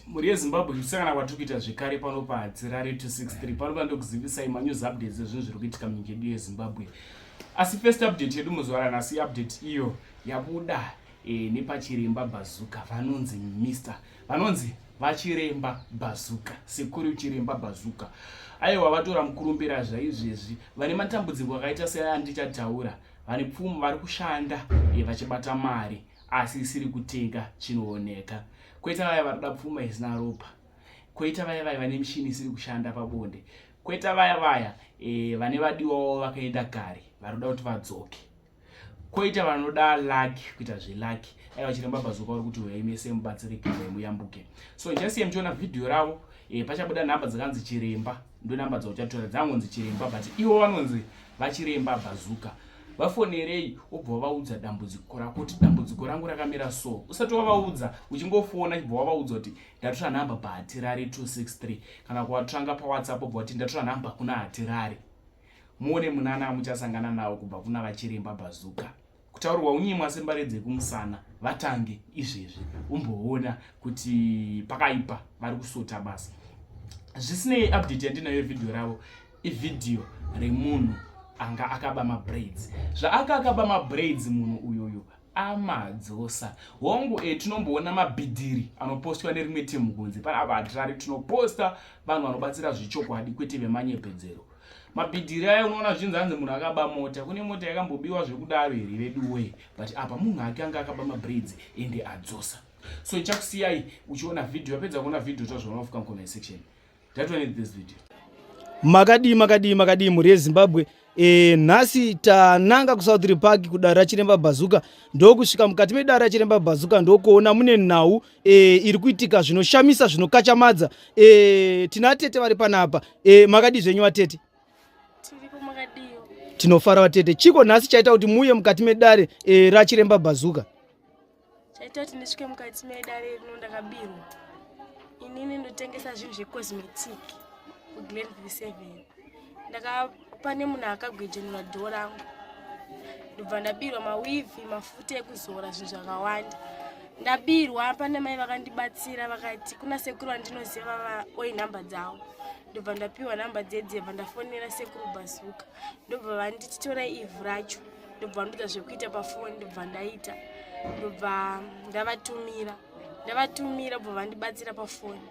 mhuri yezimbabwe kusangana kwatiri kuita zvekare pano padzirare 263 panopa ndokuzivisai manews updates ezvinhu zviri kuitika munyika yedu yezimbabwe asi first update yedu muzuva ranhasi update iyo yabuda e, nepachiremba bazuka vanonzi mister vanonzi vachiremba bazuka sekuru chiremba bazuka aiwa vatora mukurumbira zvaizvezvi vane matambudziko akaita seaya ndichataura vane pfumo vari kushanda e, vachibata mari asi isiri kutenga chinooneka kwete vaya vanoda pfuma isina ropa kwete vaya vaya vane mishini isiri kushanda pabonde kwete vaya vaya e, vane vadiwawo vakaenda kare vanoda kuti vadzoke koita vanoda laki kuita zvelaki aiwa chiremba bazuka uri kuti huyai mese mubatsirike huyai muyambuke so jasiye muchiona vhidhiyo ravo e, pachabuda nhamba dzakanzi chiremba ndonamba dzauchatora dzangonzi chiremba but iwo vanonzi vachiremba bhazuka vafonerei wobva wavaudza dambudziko rako kuti dambudziko rangu rakamira so usati wavaudza uchingofona chibva wavaudza kuti ndatora nhamba pahatirari 263 kana kuvatsvanga pawhatsapp obva kuti ndatora nhamba kuna hatirari muone munana amuchasangana nawo kubva kuna vachiremba bhazuka kutaurwa unyimwa sembare dzekumusana vatange izvezvi umboona kuti pakaipa vari kusota basa zvisinei update yandinayo vhidhiyo ravo ivhidhiyo remunhu anga akaba mabraids zvaaka akaba mabraids munhu uyoyo amadzosa hongu e tinomboona mabhidhiri anopostwa nerimwe team kunze panapa hatirari tinoposta vanhu vanobatsira zvechokwadi kwete vemanyepedzero mabhidhiri ayo unoona zvinzi hanzi munhu akaba mota kune mota yakambobiwa zvekudaro here veduwe but apa munhu ake anga akaba mabraids ende adzosa so ichakusiyai uchiona vhidhiyo yapedza kuona vhidhiyo tazvaona kufika mucomment section that one this video makadii makadii makadii mhuri yezimbabwe e, nhasi tananga kusouthrey park kudare rachiremba bhazuka ndokusvika mukati medare rachiremba bhazuka ndokuona mune nhau e, iri kuitika zvinoshamisa zvinokachamadza e, tina atete vari panapa e, makadii zvenyu vatete tinofara vatete chiko nhasi chaita kuti muuye mukati medare e, rachiremba bhazuka chaita kuti ndisvike mukati medare rino ndakabirwa inini ndotengesa zvinhu zvecosmetic kuglenville seven ndakapane munhu akagwejenura dhoo rangu ndobva ndabirwa mawivi mafuta ekuzora zvinhu zvakawanda ndabirwa pane mai vakandibatsira vakati kuna sekuru vandinoziva vava oi nhamba dzavo ndobva ndapiwa nhamba dzedzebva ndafonera sekuru bazuka ndobva vanditi tora ivhu racho ndobva ndoita zvekuita pafoni ndobva ndaita ndobva ndavatumira ndavatumira bva vandibatsira pafoni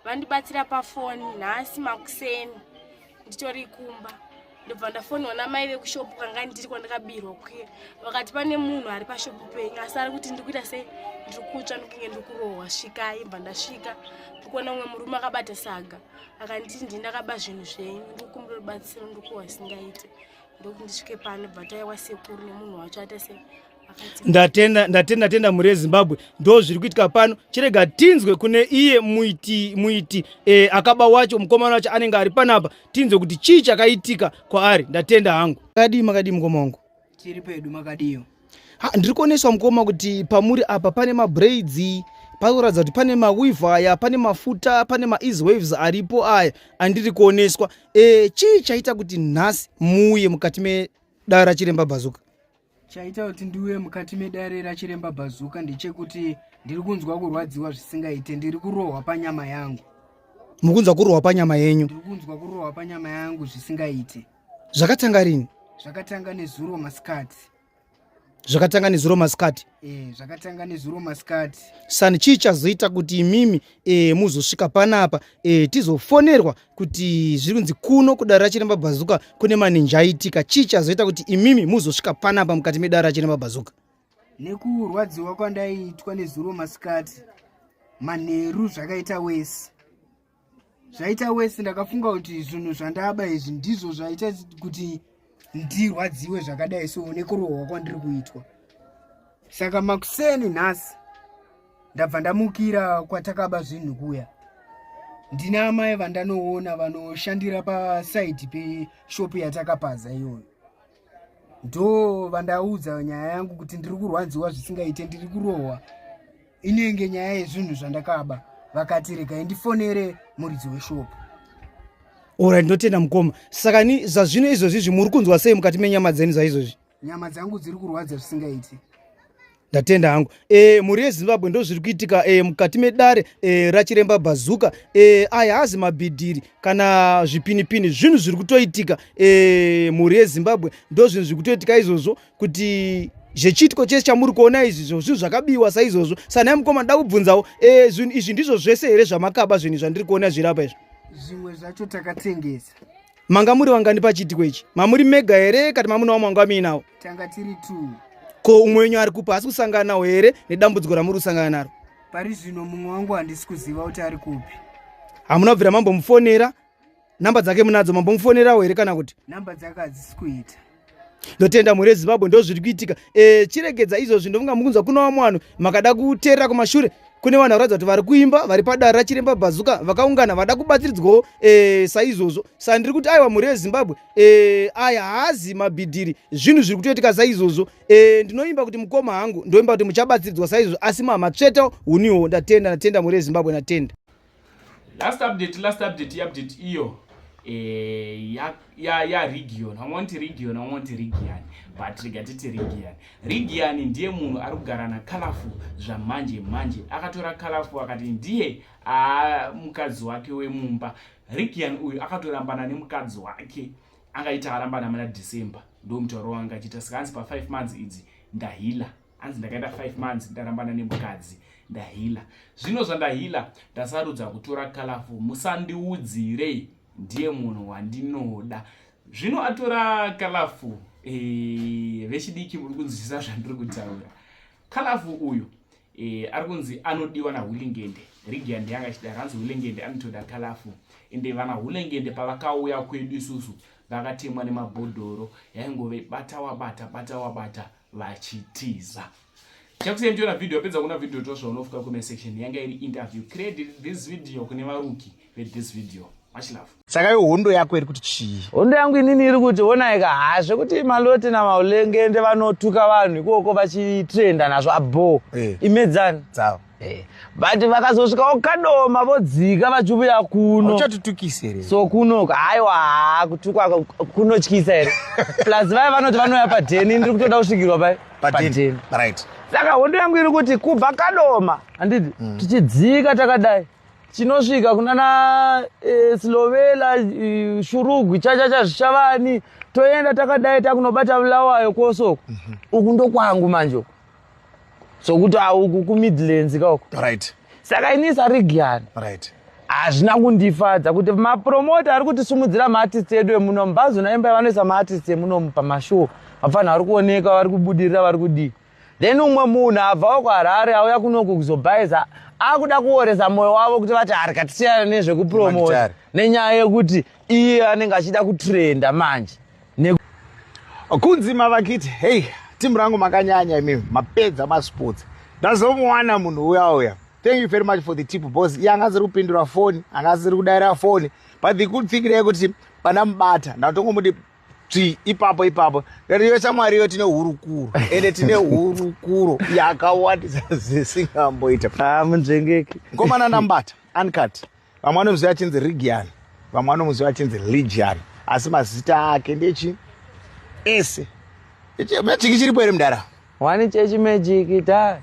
vandibatsira pafoni nhasi makuseni nditori kumba ndobva ndafoniwa namai vekushopu kanga ndiri kwandakabirwa kuya vakati pane munhu ari pashopu penyu asi ari kuti ndikuita sei ndiri kutsva ndikunge ndiri kurohwa svikai bva ndasvika ndikuona umwe murume akabata saga akanditi ndii ndakaba zvinhu zvenyu ndikukumbira rubatsiro ndikuwa singaite ndokuti ndisvike pano bva taiwa sekuru nemunhu wacho aita sei ndatenda ndatenda ndatenda mhuri yezimbabwe ndo zviri kuitika pano chirega tinzwe kune iye muiti muiti e, akaba wacho mukomana wacho anenge ari panapa tinzwe kuti chii chakaitika kwaari ndatenda hangu makadii makadii mukoma wangu tiri pedu makadiyo ndiri kuoneswa mukoma kuti pamuri apa pane mabraids pakuratidza kuti pane mawive aya pane mafuta pane maeas waves aripo aya andiri kuoneswa e, chii chaita kuti nhasi muuye mukati medara chiremba bhazuka Chaita kuti ndiuye mukati medare rachiremba Bhazuka ndechekuti ndiri kunzwa kurwadziwa zvisingaite, ndiri kurohwa panyama yangu. Mukunzwa kurohwa panyama yenyu? Ndiri kunzwa kurohwa panyama yangu zvisingaite. Zvakatanga rini? Zvakatanga nezuro masikati. Zvakatanga nezuro masikati? Eh, zvakatanga nezuro masikati. Sani chii chazoita kuti imimi eh muzosvika panapa eh tizofonerwa kuti zviri kunzi kuno kudare rachiremba bhazuka kune maninja aitika chii chazoita kuti imimi muzosvika panapa mukati medare rachiremba bhazuka nekurwadziwa kwandaiitwa nezuro masikati manheru zvakaita wese zvaita wese ndakafunga kuti zvinhu zvandaba izvi ndizvo zvaita kuti ndirwadziwe zvakadai so nekurohwa kwandiri kuitwa saka makuseni nhasi ndabva ndamukira kwatakaba zvinhu kuya ndina amai vandanoona vanoshandira pasaidi peshopu yatakapaza iyoyo ndo vandaudza nyaya yangu kuti ndiri kurwadziwa zvisingaite ndiri kurohwa inenge nyaya yezvinhu zvandakaba vakati regai ndifonere muridzi weshopu ora ndinotenda mukoma saka ni zvazvino izvozvi zvi muri kunzwa sei mukati menyama dzeni zvaizvozvi nyama dzangu dziri kurwadza zvisingaiti ndatenda hangu e, mhuri yezimbabwe ndo zviri kuitika e, mukati medare e, rachiremba bhazuka e, aya hazi mabhidhiri kana zvipinipini zvinhu zviri kutoitika e, mhuri yezimbabwe ndo zvinhu zviri kutoitika izvozvo kuti zvechiitiko chese chamuri kuona izvi zvo zvinhu zvakabiwa saizvozvo sanai mukoma ndoda kubvunzawo e, zvinhu izvi ndizvo zvese here zvamakaba zvinhu zvandiri kuona zviri apa izvo zvimwe zvacho takatengesa manga muri vangani pachiitiko ichi mamuri mega here kati mamuna wamwe wanga muinawo tanga tiri t ko umwe wenyu ari kupi haasi kusangana nawo here nedambudziko ramuri kusangana naro pari zvino mumwe wangu handisi kuziva kuti ari kupi hamuna kubvira mambomufonera number dzake munadzo mambomufonerawo here kana kuti number dzake hadzisi kuita ndotenda mhuri yezimbabwe ndo zviri kuitika e, chiregedza izvozvi ndofunga mukunzwa kuno vamwe vanhu makada kuteerera kumashure kune vanhu vakuratidza kuti vari kuimba vari padare rachiremba bhazuka vakaungana vada kubatsiridzwawo e, saizvozvo sa ndiri kuti aiwa mhuri yezimbabwe e, aya haazi mabhidhiri zvinhu zviri kutoitika saizvozvo e, ndinoimba kuti mukoma hangu ndoimba kuti muchabatsiridzwa saizvozvo asi mamatsveta uniwo ndatenda ndatenda mhuri yezimbabwe ndatenda last update last update iupdate iyo eh, ya, ya, ya region hamunoti region hamunoti region but rega titi region region ndiye munhu ari kugara nakalafu zvamanje manje akatora kalafu akati ndiye aa mukadzi wake wemumba region uyu akatorambana nemukadzi wake angaita arambana mana december ndomutauro wanga achiita saka hanzi pa5 months idzi ndahila hanzi ndakaita 5 months ndarambana nemukadzi ndahila zvino zvandahila ndasarudza kutora kalafu musandiudzirei ndiye munhu wandinoda zvino atora kalafu e, vechidiki muri kunzwisisa zvandiri kutaura kalafu uyu e, ari kunzi anodiwa nahulingende rigi yandi yanga ichidaro hanzi hulengende anotoda kalafu ende vana hulengende pavakauya kwedu isusu vakatemwa nemabhodhoro yaingove bata wabata bata wabata vachitiza chakusiya ndichiona video apedza kuona video tosva unofuka comment section yanga iri interview credit this video kune varuki vethis video much love saka yo hondo yako iri kuti chii hondo yangu inini iri kuti onaika ha zvekuti maloti namaulengende vanotuka vanhu ikoko vachitrenda nazvo abho hey. Eh. imedzani dzavo Eh, but vakazosvikawo kadoma vodzika vachiuya kuno uchatitukisa here so kuno haiwa haa kutukwa ku- kunotyisa here plus vaye vanoti vanouya padheni ndiri kutoda kusvikirwa pai padheni right saka hondo yangu iri kuti kubva kadoma handiti Mm. tichidzika takadai tinosvika kunana eh, silovela eh, shurugwi chachacha zvichavani toenda takadai takunobata vulawayo kwosoko Mhm. uku ndokwangu manje uku sokuti auku kumidlands kauko right saka ini sarigiani right hazvina kundifadza kuti mapromota ari kutisumudzira maartist edu emuno mbazo naimba vanoisa maartist emunomu pamashow vapfanhu vari kuoneka vari kubudirira vari kudii then umwe munhu abvawo kuharare auya kunoku kuzobhaiza akuda kuoresa mwoyo wavo kuti vati harika tisiyana nezvekupromota nenyaya yekuti iye anenge achida kutrenda manje kunzi mavakiti hei timu rangu makanyanya imi mapedza masports ndazomuwana munhu uya uya thank you very much for the tip bos iye anga asiri kupindura foni anga asiri kudaira foni but the good thing reyekuti pana mubata ndatongomuti tsvi ipapo ipapo iyo shamwari iyo tine hurukuro ende tine hurukuro yakawandisa zisingamboita ah, munzvengeki komana ndambata uncut vamwe vanomuziva achinzi rigian vamwe vanomuziva achinzi ligian asi mazita ake ndechi ese mechiki chiripo here mudara wani chechi mejiki ta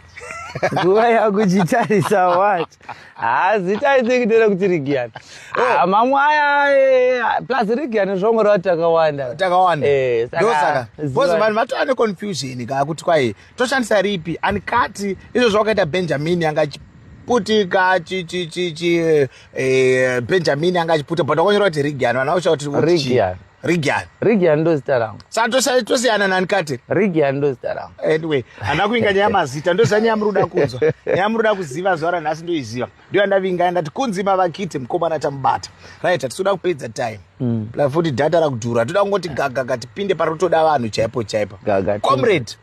nguva yakuchitarisa wat hazita isekitera kuti rigian oh. ah, mamwe aya eh, plus rigian zvongoreva takawanda takawanda eh, ndosaka bcause vanhu vatova neconfusion ka kuti kwai toshandisa ripi and kati izvo zvawakaita benjamini anga putika eh, benjamini anga achiputa but wakanyora kuti rigian vana vakushaa kuti rigian rigian rigian ndo zita rangu saka tosiyana nani kati rigian ndo zita rangu anyway handina kuinga nyaya mazita ndozva nyaya muri kuda kunzwa nyaya muri kuda kuziva zuva ranhasi ndoiziva ndiyo andavinga ndati kunzi mavakite mukomana tamubata right hatitoda kupedza time mm. plus futi data rakudhura toda kungoti gagaga tipinde parotoda vanhu chaipo chaipo comrade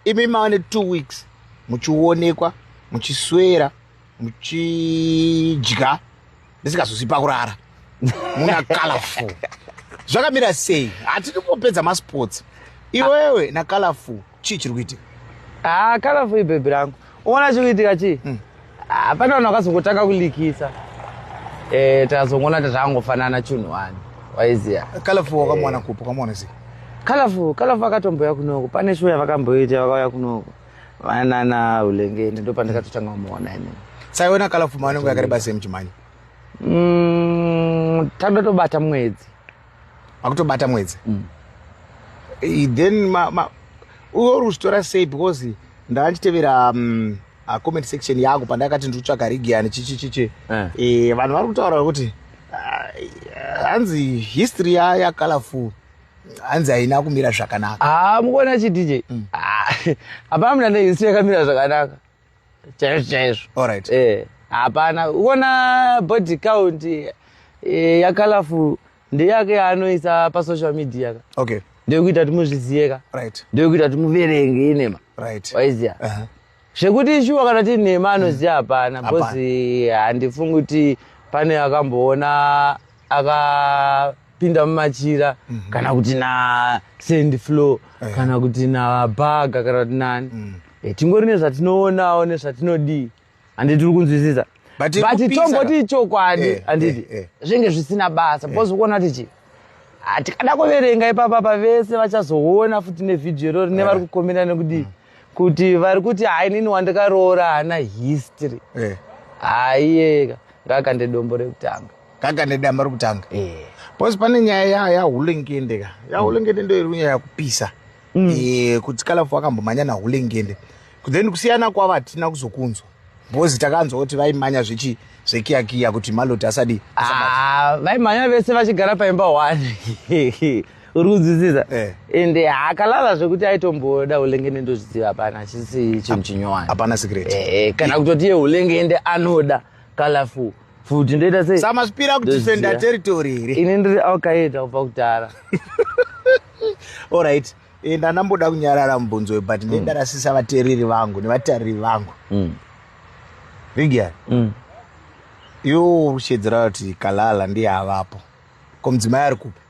imi mava netwo weeks muchionekwa muchiswera muchidya ndisingazozi pakurara muna colorful zvakamira sei hatidi kupedza masports iwewe na colorful chii chiri kuitika ah, kala fui bhebhi rangu uona chiri kuitika chii hmm. ah, pane vanhu vakazongotanga kulikisa eh, takazongoona kuti zvakangofanana chunhu wani waiziva kala fui wakamwana eh. kupo kamwana sei kalafu kalafu akatomboya kunoko pane shuwa yavakamboita vakauya kunoko vanana ulengeni ndo pandakatotanga kumuona ini saiona kalafu maanenge yakareba sei muchimhanya mm, tandatobata mwedzi makutobata mwedzi mm. then ma, ma, uyo uri kuzvitora sei because ndava ndichitevera um, uh, comment section yangu pandakati ndiri kutsvaga rigiani chichichichi eh. eh, vanhu vari kutaura kuti uh, hanzi uh, history yayacolorful hanzi haina kumira zvakanaka ah, mukuona chidj mm. ah, hapana mna nehistory yakamira zvakanaka chaizvo chaizvo Alright. eh hapana uona body count eh, yakalafu ndeyake yaanoisa pasocial media ka okay ndeyokuita kuti muzvizive ka right ndeyokuita kuti muverenge inema right waiziva Aha. zvekuti shuwa kana ti nhema anoziva hapana Hapana. bcause handifungi kuti pane akamboona aka kupinda mumachira mm -hmm. kana kuti nasend flow yeah. kana kuti nabaga kana kuti nani mm. e, tingori nezvatinoonawo nezvatinodii handi tiri kunzwisisa but tongoti ichokwadi eh, handiti eh, eh. zvinge zvisina basa eh. bcause ukuona kuti chii hatikada ah, kuverenga ipapa pavese vachazoona futi nevhidhiyo irori nevari eh. kukomera nekudii mm. kuti vari kuti hai nini wandakaroora haana history eh. haiyeka ngakande dombo rekutanga ngakande damba rekutanga eh. bcause pane nyaya yahulengende ka yahulengende ndo iri nyaya yakupisa mm. eh, kuti kalafu wakambomhanya nahulengende then kusiyana kwavo hatina kuzokunzwa bcause takanzwa kuti vaimanya zvechi zvekiyakiya kuti maloti asadi ah, vaimhanya vese vachigara paimba one uri kunzwisisa eh. ende eh, akalala zvekuti aitomboda ulengende ndozviziva hapana chisi chinhu chinyowani hapana secret eh, eh kana eh. kutoti iye ulengende anoda kalafu futi ndoita sei samazvipira kudefenda territory here ini ndiri aukaita kubva kudhara allright eh, ndanamboda kunyarara mubvunzo we but ndedarasisa mm. vatereri vangu nevatariri vangu mm. rigian mm. iwo ushedzera kuti kalala ndiye avapo ko mudzimai ari kupi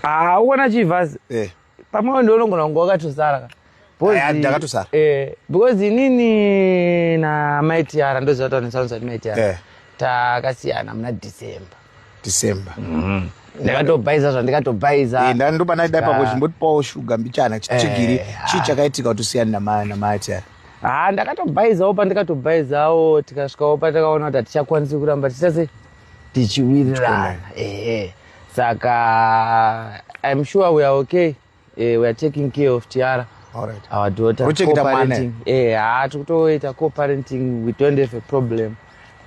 haa uona chivhazi eh. pamwe ndonongona kunge wakatosara ka ndakatosara eh, because inini namai tiara ndoziva kuti vanosanisa kuti mai tiara eh. takasiyana muna december december mm-hmm. ndakatobhaiza zvandikatobhaiza eh, ndandoba naida ipapo chimbotipawo shuga mbichana chigiri chii chakaitika kuti usiyana namai tiara haa ah, ndakatobhaizawo pandikatobhaizawo tikasvikawo patakaona kuti hatichakwanisi kuramba tichase tichiwirirana ehe saka im sure we are okay eh, we are taking care of tiara right. our daughter coparenting eh ha tikutoita coparenting we don't have a problem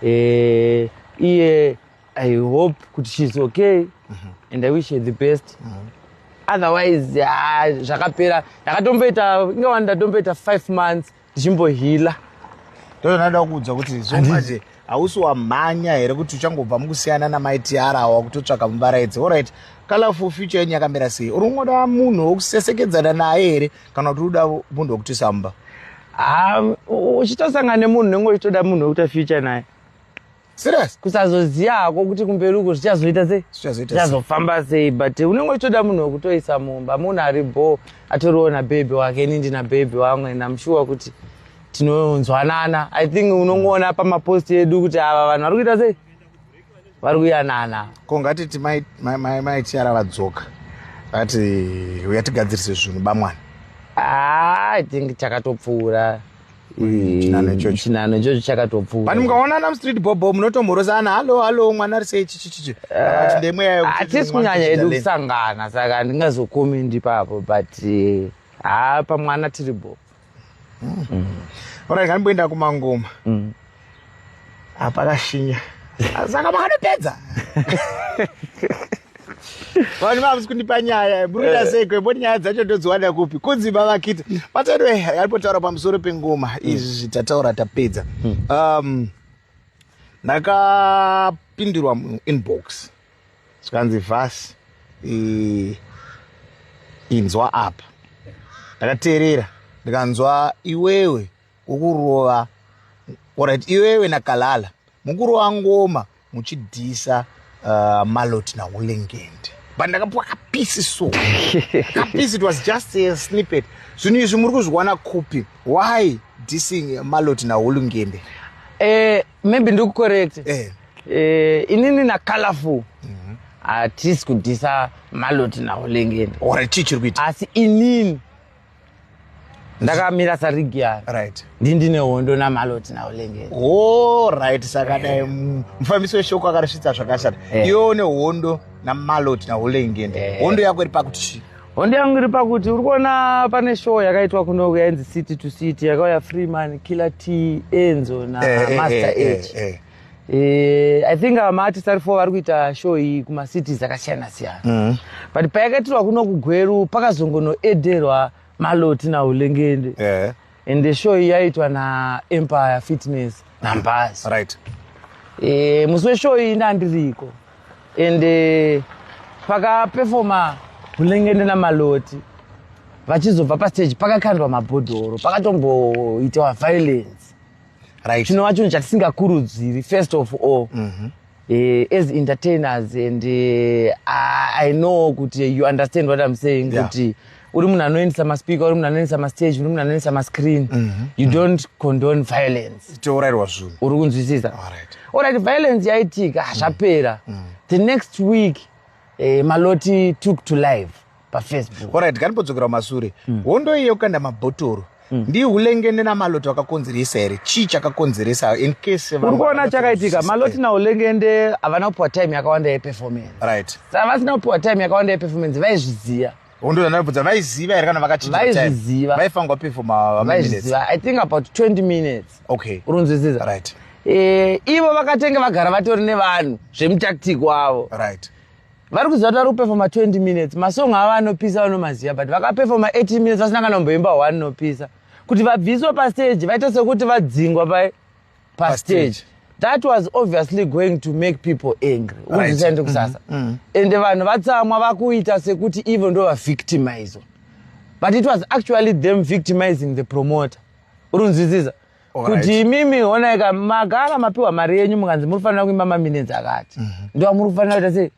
eh iye i hope kuti she's okay mm -hmm. and i wish her the best mm -hmm. otherwise ah, zvakapera ndakatomboita ingawani ndatomboita five months tichimbohila ndozvandada kuudza kuti zvomanje hausi wamhanya here kuti uchangobva mukusiyana namai tiara awa kutotsvaka muvaraidzi orit colorful future yenyu yakamira sei uri kungoda munhu wokusesekedzana naye here kana kuti uda munhu wokutisa mumba uchitosangana nemunhu nenge uchitoda munhu wokuita future naye Serious? Kusazoziva hako kuti kumberi uko zvichazoita sei? Zvichazoita sei? Zvichazofamba sei but unenge uchitoda munhu wekutoisa mumba, munhu ari bho atoriwo na baby wake, ini ndina baby wangu and I'm sure kuti tinonzwanana. I think unongoona pamapost edu kuti ava vanhu vari kuita sei? Vari kuyanana. Ko ngatiti mai mai mai Tiara vadzoka. Ati uyatigadzirise zvinhu bamwana. Ah, I think chakatopfuura. chinano ichocho chakatopfuura pani mukaonana mustreet bobo munotomhorosana hallo hallo mwana ari sei chichichichi ah, ndemweyayo hatisi kunyanya edu kusangana saka handingazokomendi ipapo but eh, haa pamwana tiri bo hmm. orai nganimboenda kumangoma hmm. hapana shinya saka makanopedza vanhu vamusi kundipa nyaya muruita eh. seiko mboti nyaya dzacho ndodziwana kupi kunzi mavakita matero yalipotaura pamusoro pengoma hmm. izvi tataura tapedza hmm. um, ndakapindirwa muinbox zvikanzi vhasi inzwa apa ndakateerera ndikanzwa iwewe ukurova orit iwewe nakalala mukurova ngoma muchidhisa uh, malot naulengende but ndakapiwa kapisi so kapisi it was just a snippet zvinhu izvi muri kuzviwana kupi why dissing malot naulengende eh, maybe ndikucorrect eh. eh, inini nacolorful mm -hmm. hatisi kudhisa malot naulengende or chii chiri kuita asi inini ndakamira sarigi yayo right ndi ndine hondo namaloti nawo lengeni oh right saka dai eh. mufambisi weshoko akarisvitsa zvakashata eh. iwe une hondo namaloti nawo lengeni eh. hondo yako iri pakuti chii hondo yangu iri pakuti uri kuona pane show yakaitwa kuno yainzi city to city yakauya freeman killer t enzo namaster age Eh, i think ava maartist ari four vari kuita show iyi kumacities akasiyana siyana mm. but payakaitirwa kuno kugweru pakazongonoederwa maloti naulengende yeah. and the show iyi yaitwa naempire fitness nambas right. e, musi weshow iyi ndandiriko and eh, pakapefoma ulengende namaloti vachizobva pastage pakakandwa mabhodhoro pakatomboitawa violence right. chinova chinhu chatisingakurudziri first of all mm -hmm. Uh, as entertainers and uh, i know kuti you understand what i'm saying yeah. kuti uri munhu anoendesa maspeaker uri munhu anoendesa mastage uri munhu anoendesa mascreen mm -hmm. you mm -hmm. don't condone violence tourairwa zvinhu uri kunzwisisa orit violence yaitika hazvapera mm -hmm. the next week uh, maloti took to life pafacebook orit kanipodzokera kumasure mm. hondo iye yokukanda mabhotoro mm. ndi hulengende namaloto akakonzeresa here chii chakakonzeresa incase uri kuona chakaitika maloti naulengende havana kupiwa time yakawanda yeperformance right saka vasina kupiwa time yakawanda yeperformance vaizviziva hondozandaibvudza vaiziva here kana vakachivaiziva vaifangwa pefoma vaiziva i think about 20 minutes okay urunzwisisa right e, ivo vakatenge vagara vatori nevanhu zvemutactic wavo right vari kuziva kuti vari kupefoma 20 minutes masong avo anopisa vanomaziva but vakapefoma 18 minutes vasina kana kumboimba one nopisa kuti vabviswe pastage vaite sekuti vadzingwa pa pastage that was obviously going to make people angry uzisaende kusasa mm-hmm. mm-hmm. ende vanhu vatsamwa vakuita sekuti ivo ndo vavictimizwa but it was actually them victimizing the promoter urunzwisisa kuti imimi honaika magara mapiwa mari yenyu mukanzi muri kufanira kuimba maminenzi akati mhm. ndo amuri kufanira kuita sei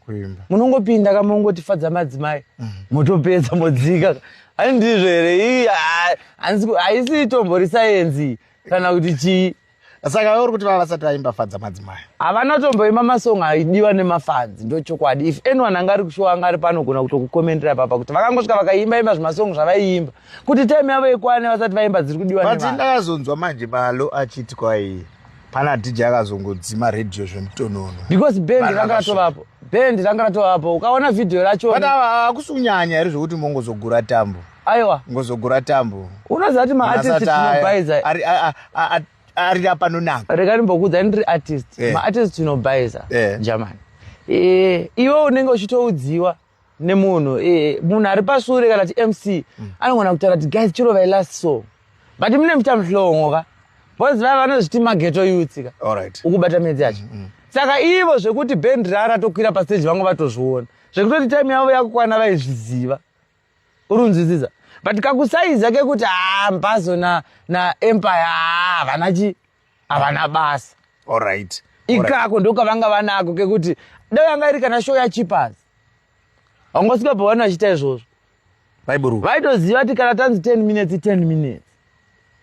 munongopinda ka mongotifadza madzimai mhm. motopedza modzika ai ndizvo here ii haisi itombo risayenzi kana kuti chii saka uri kuti vava vasati vaimba fadza madzimai havana tomboimba masong aidiwa nemafanzi ndo chokwadi if anyone anga ari kushowa anga ari panogona kutokukomendera papa kuti vakangosvika vakaimba imba zvimasong zvavaiimba kuti time yavo ikwane vasati vaimba dziri kudiwa but ndakazonzwa manje malo achiti kwai pana dj akazongodzima radio zvemutonono because band ranga ratovapo band ranga ratovapo ukaona vhidhiyo racho but hakusi kunyanya here zvekuti mongozogura tambo aiwa ngozogura tambo unoziva kuti maartist tinobaiza ari apanonaka rega ndimbokuudza ndiri artist eh. maartist tinobaiza eh. jamani eh, iwe unenge uchitoudziwa nemunhu eh, munhu ari pasure kana ti mc mm. anogona kutaura kuti guys chiro vai last so but mune muita muhlongo ka bcause vava vanozviti mageto yuthi ka ukubata medzi yacho mm, mm. saka ivo zvekuti band rara tokwira pasteji vangu vatozviona zvekutoti time yavo yakukwana vaizviziva uri unzwisisa but kakusaiza kekuti haa ah, mbazo na, na empire haa ah, vana chii havana basa alright ikako ndokavanga vanako kekuti dai yanga iri kana show yachipas vangosvika pavanhu vachiita izvozvo vaiburu vaitoziva kuti kana tanzi 10 minutes 10 minutes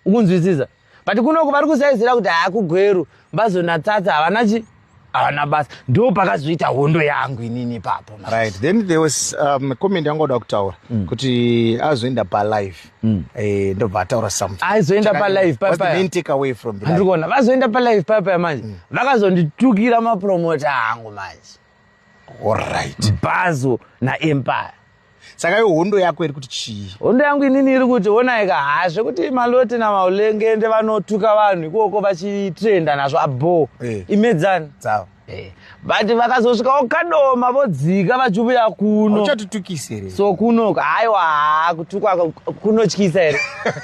ukunzwisisa but kunoko vari kusaizira kuti haakugweru mbazonatsatsa havana chi haana basa ndo pakazoita hondo yangu inini ipapo right then there was um, comment yanga oda kutaura mm. kuti azoenda palive mm. eh, ndobva ataura something aizoenda palive papayandikuona vazoenda palive papaya manje mm. vakazonditukira mapromota angu manje allright bhazo naempire saka yo hondo yako iri kuti chii hondo yangu inini iri kuti onai ka haa zvekuti maloti namaulengende vanotuka vanhu ikoko vachitrenda nazvo abho eh. imedzani dzavo eh. but vakazosvikawo kadoma vodzika vachivuya kuno uchatitukisi here so kuno haiwa haa kutukwa kunotyisa here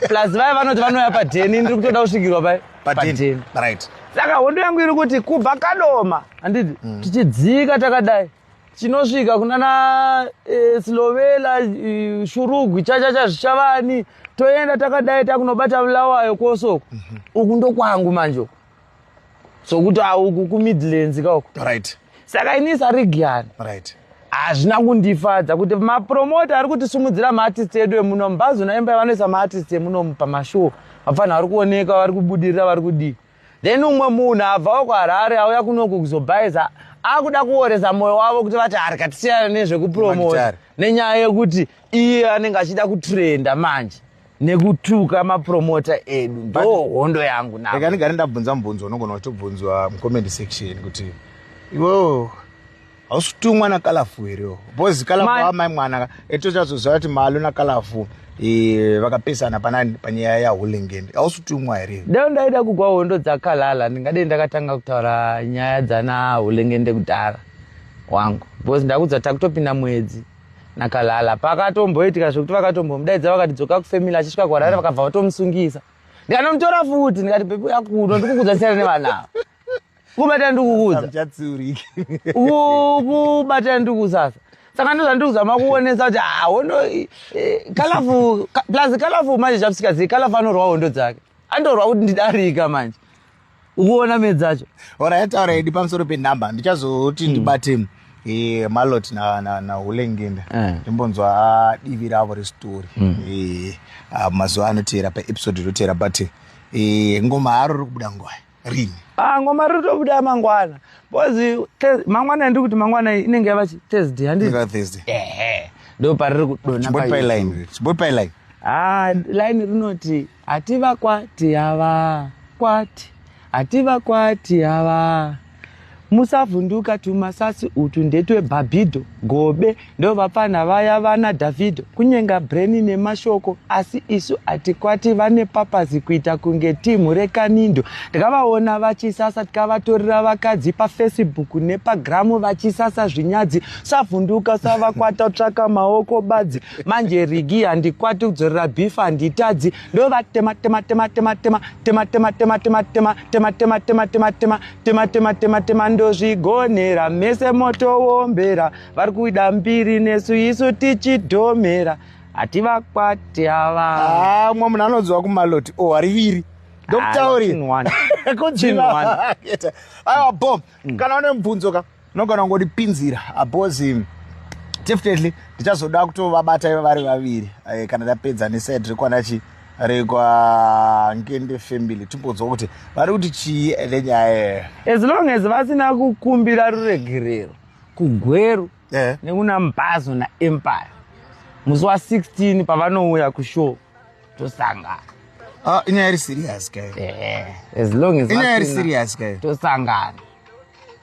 plus vaya vanoti vanouya padheni ndiri kutoda kusvikirwa pai padheni right saka hondo yangu iri kuti kubva kadoma handiti mm. tichidzika takadai chinosvika kunana e, slovela e, shurugwi chachacha zvichavani toenda takadai takunobata vulawayo kosoko mm -hmm. uku ndokwangu manje sokuti auku kumidlands kauko right. saka ini sarigiani right hazvina kundifadza kuti mapromota ari kutisimudzira maartist edu emuno mubhazo naimba vanoisa maartist emuno pamashow vapfanha vari kuoneka vari kubudirira vari kudii Then umwe munhu abvawo kuHarare auya kunoku kuzobhaiza akuda kuoresa moyo wavo kuti vati harika tisiyana nezvekupromota nenyaya yekuti iye anenge achida kutrenda manje nekutuka mapromota edu ndo hondo yangu naeka ndigare ndabvunza mubvunzo unogona kutobvunzwa mucomment section kuti iwoo hausi kuti umwana kalafu here bcoz kalafu amai mwana etochazoziva kuti malo nakalafu eh, vakapesana panani panyaya yahulingend hausi kuti umwa here dai ndaida kugwa hondo dzakalala ndingadei ndakatanga kutaura nyaya dzana hulingende kudhara wangu bcoz ndakudza takutopinda mwedzi nakalala pakatomboitika zvekuti vakatombomudaidza vakati dzoka kufamily achisvika kuharare vakabva vatomusungisa ndikanomutora futi ndikati pepe yakuno ndikukudza siyana nevanavo kubatana ndikukuudza Muchatsiurika. Ku- kubatana ndikukuudza sasa saka ndozva ndikuudza makuonesa kuti ah, hondo i- i- kalafu ka- plus kalafu manje zvapsika zii kalafu anorwa hondo dzake andorwa kuti ndidarika manje ukuona me dzacho Ora yataura idi pamusoro penhamba ndichazoti ndibate eh, malot na, na, na hulengenda Eh. ndimbonzwa ah, divi ravo resitori Eh, ah, mazuva anoteera paepisode inoteera but eh, ngoma haro riri kubuda ngwai rini ah, ngoma riri kutobuda mangwana bcause mangwana ndiri kuti mangwana inenge yava thursday handithursday ehe ndo pariri kudonachiboipaline ah, line rinoti hativa kwati hava kwati hativa kwati hava musavhunduka tumasasi utu ndetwebhabhidho gobe ndovapfanha vaya vana dhavhidho kunyenga breni nemashoko asi isu hatikwati vane papazi kuita kunge timhu rekanindo tikavaona vachisasa tikavatorera vakadzi pafacebook nepagramu vachisasa zvinyadzi savhunduka savakwata tsvaka maoko badzi manje rigi handikwati kudzorera bhifa handitadzi ndovatema tema tema tema tema tema tema tema tema tema tema tema tema tema tema tema tema tema tema ndozvigonera mese moto wombera vari kuida mbiri nesu isu tichidhomera hativakwati ava ah, mwa munhu anodziwa kumaloti o oh, hariviri ndokutaurira ah, aiwa bom mm. kana une mubvunzo ka tinogona kungodipinzira apozi ah, definitely ndichazoda kutovabata iva vari vaviri eh, kana ndapedza nesaid rekwanachi rekwangende family timbonzwa kuti vari kuti chii ende nyaya yeyo as long as vasina kukumbira ruregerero kugweru eh. nekuna mbazo naempire musi wa16 pavanouya kushow tosangana ah, inyaya iri serious kayo eh, as long as inyaya iri serious kayo tosangana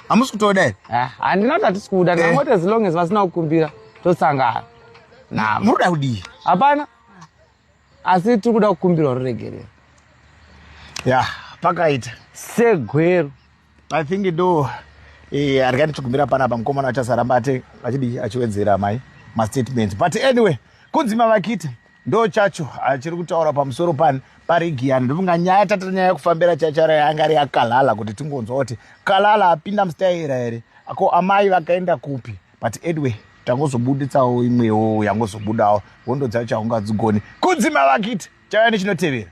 hamusi kutoda here eh, handina kuti hatisi kuda eh. ndangoti as long as vasina kukumbira tosangana na muri kuda kudii hapana asi tiri kuda kukumbirwa ruregerero ya pakaita segwero i think do eh, harikati tikumbira panapa mukomana achasaramba ate achidii achiwedzera mai mastatement but anyway kunzi mavakita ndo chacho achiri kutaura pamusoro pani parigi yani ndofunga nyaya tata nyaya yekufambira chachara yanga ari yakalala kuti tingonzwa kuti kalala apinda mustayera here ko amai vakaenda kupi but edway tangozobuditsawo imwewo yangozobudawo hondo dzacho chaungadzigoni kudzima vakiti chauya nechinotevera